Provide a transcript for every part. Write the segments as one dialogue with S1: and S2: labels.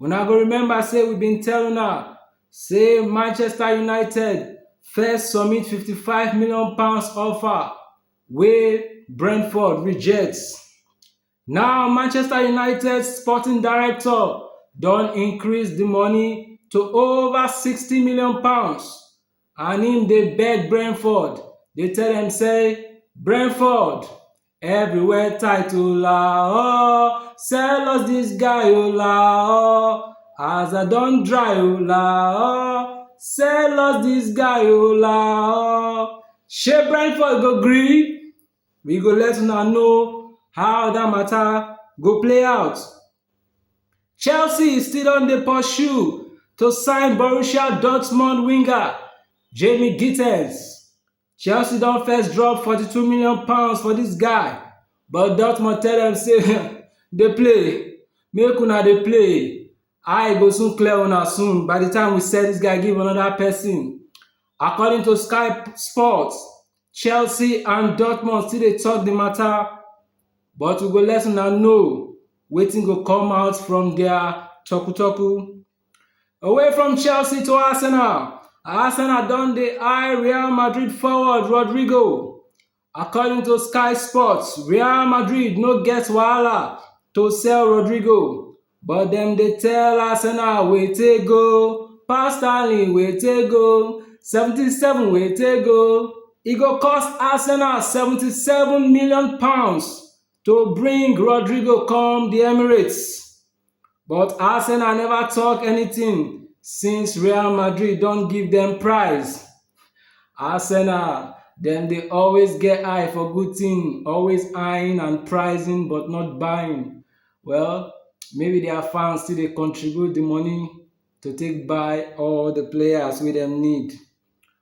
S1: Una go remember say we bin tell una say Manchester United first submit £55 million offer wey Brentford reject. Now Manchester United sporting director don increase di money to over £60 million and im dey beg Brentford dey tell dem say, Brentford Everywhere tight o la oh, sell us this guy o la oh. As I don dry o la oh, sell us this guy o la oh. Shey Brentford go gree? We go let una know how that matter go play out. Chelsea still don dey pursue to sign Borussia Dortmund winger Jamie Gittens Chelsea don first drop forty-two million pounds for dis guy but Dortmund tell dem say dey play, make una dey play, eye go soon clear una soon by the time we sell dis guy give another person. According to Sky Sports, Chelsea and Dortmund still dey talk the matter but we go let una know wetin go come out from their talku-talku. Away from Chelsea to Arsenal, Arsenal don dey eye Real Madrid forward Rodrygo. According to Sky Sports, Real Madrid no get wahala to sell Rodrygo, but dem dey tell Arsenal wete go, pass Sterling wete go, 77 wete go. E go cost Arsenal 77 million pounds to bring Rodrygo come the Emirates. but Arsenal never talk anything since Real Madrid don give them price. Arsenal, dem dey always get eye for good thing, always eyeing and pricing but not buying. Well, maybe their fans still dey contribute the money to take buy all the players wey dem need.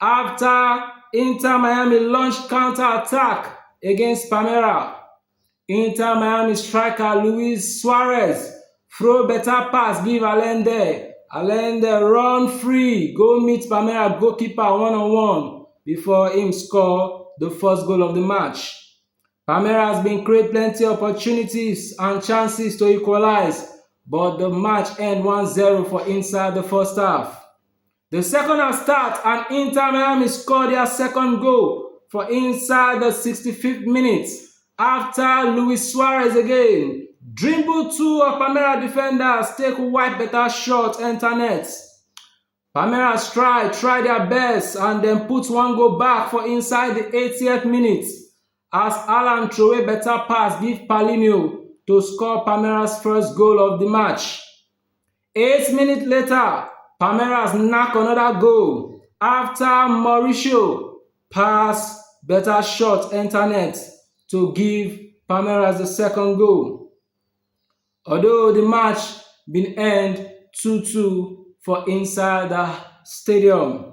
S1: Afta Inter Miami launch counter attack against Palmeiras, Inter Miami striker Luis Suarez throw beta pass give Allende, Allende run free go meet Palmeiras goalkeeper one on one before im score di first goal of di match. Palmeiras bin create plenty opportunities and chances to equalise but di match end one zero for inside di first half. Di second half start and Inter Miami score dia second goal for inside di 65th minute afta Luis Suarez again dribble two of Palmeiras defenders take wipe beta shot enta net. Palmeiras try try dia best and dem put one goal back for inside di 80th minute as Alan throway beta pass give Paulinho to score Palmeiras first goal of di match. Eight minutes later, Palmeiras knack another goal after Mauricio pass better shot enter net to give Palmeiras the second goal. Although the match bin end 2-2 for inside the stadium.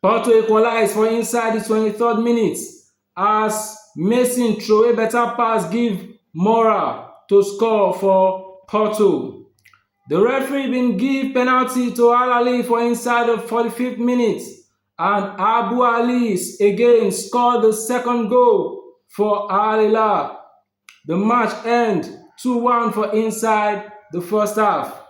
S1: Porto equalize for inside di twenty third minute as Mason throway better pass give Moura to score for Porto. Di referee bin give penalty to Al Ahly for inside di forty fifth minute and Abou Allies again score di second goal for Al Hilal. di match end two one for inside di first half.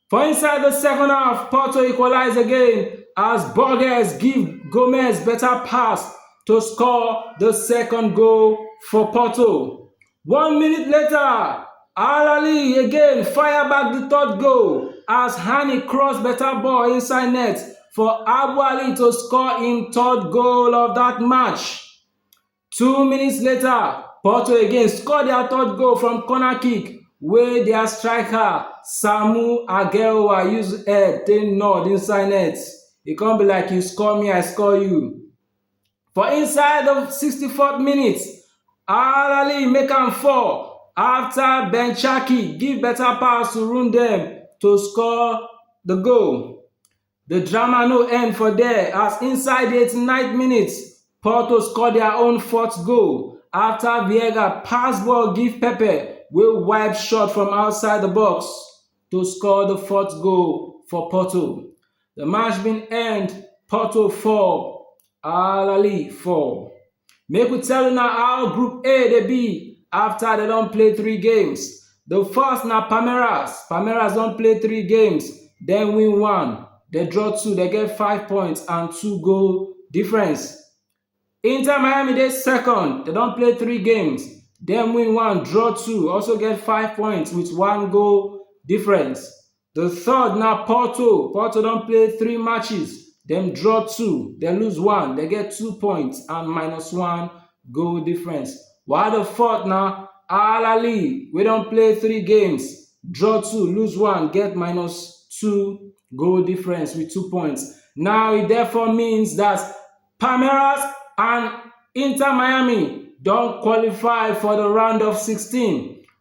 S1: For inside di second half, Porto equalize again as Borges give Gomes better pass to score di second goal for Porto. One minute later, Alali again fire back di third goal as Hani cross better ball inside net for Abu Ali to score im third goal of dat match. Two minutes later, Porto again score their third goal from corner kick wey their striker Samu Ageowa use head take nod inside net. E come be like you score me, I score you. For inside the 64th minute, Alali make am fall after Ben Chaki give better pass to Rundem to score the goal. The drama no end for there as inside di 89th minute, Porto score dia own fourth goal afta Vieiga pass ball give Pepe wey wipe shot from outside di box to score di fourth goal for Porto. Di match bin end Porto 4, Al Ahly 4. Make we tell una how Group A dey be after dem don play three games. The first na Palmeiras. Palmeiras don play three games, dem win one, dem draw two, dem get five points and two goal difference. Inter Miami dey second, dem don play three games, dem win one, draw two, also get five points with one goal difference. Di third na Porto, Porto don play three matches, dem draw two, dem lose one, dem get two points and minus one goal difference. While di fourth na Al Ahly wey don play three games, draw two, lose one, get minus two goal difference with two points. Now e therefore means that Palmeiras and Inter Miami don qualify for di round of sixteen.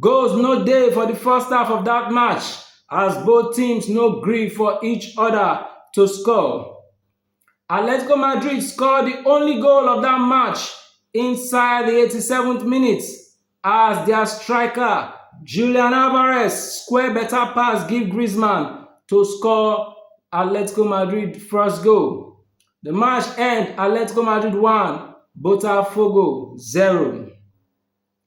S1: Goals no dey for di first half of dat match as both teams no gree for each oda to score. Atletico Madrid score di only goal of dat match inside di 87th minute as dia striker Julian Alvarez square beta pass give Griezmann to score Atletico Madrid first goal. Di match end Atletico Madrid 1, Botafogo 0.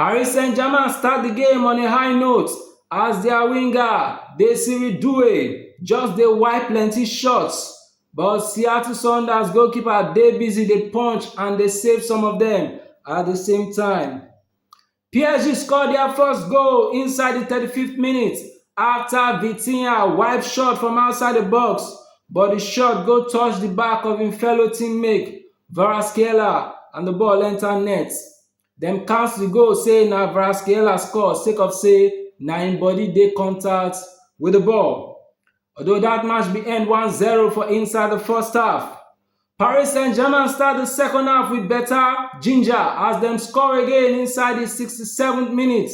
S1: Paris Saint-Germain start di game on a high note as dia winger Desiree Doué just dey wipe plenty shots but Seattle Sounders goalkeeper dey busy dey punch and dey save some of dem at di same time. PSG score dia first goal inside di 35th minute afta Vitinha wipe shot from outside di box but di shot go touch di back of im fellow teammate Kvaratskhelia and di ball enta net. Dem count di goal say na Kvaratskhelia score sake of say na im body dey contact wit di ball. Although dat match bin end one zero for inside di first half, Paris Saint-Germain start di second half wit beta ginger as dem score again inside di sixty seventh minute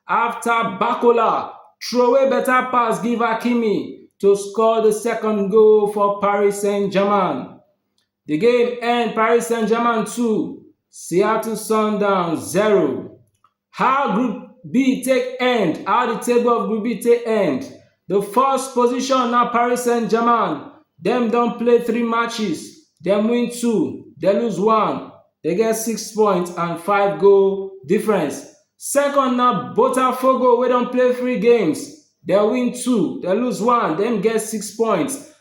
S1: afta Barcola throway beta pass give Hakimi to score di second goal for Paris Saint-Germain. The game end Paris Saint-Germain 2, Seattle Sundowns 0. How Group B take end? How the table of Group B take end? The first position na Paris Saint-Germain. Dem don play three matches, dem win two, dem lose one, dem get six points and five goal difference. Second na Botafogo wey don play three games, dem win two, dem lose one, dem get six points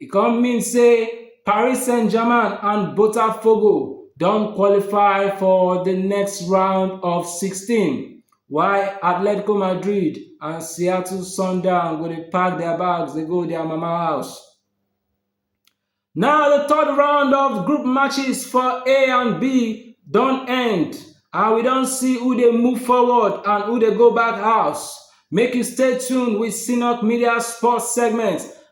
S1: E come mean say Paris Saint-Germain and Botafogo don qualify for di next round of 16, while Atletico Madrid and Seattle Sundowns go dey pack their bags dey go their mama house. Now the third round of group matches for A and B don end and we don see who dey move forward and who dey go back house. Make you stay tuned with Sinok Media Sports segment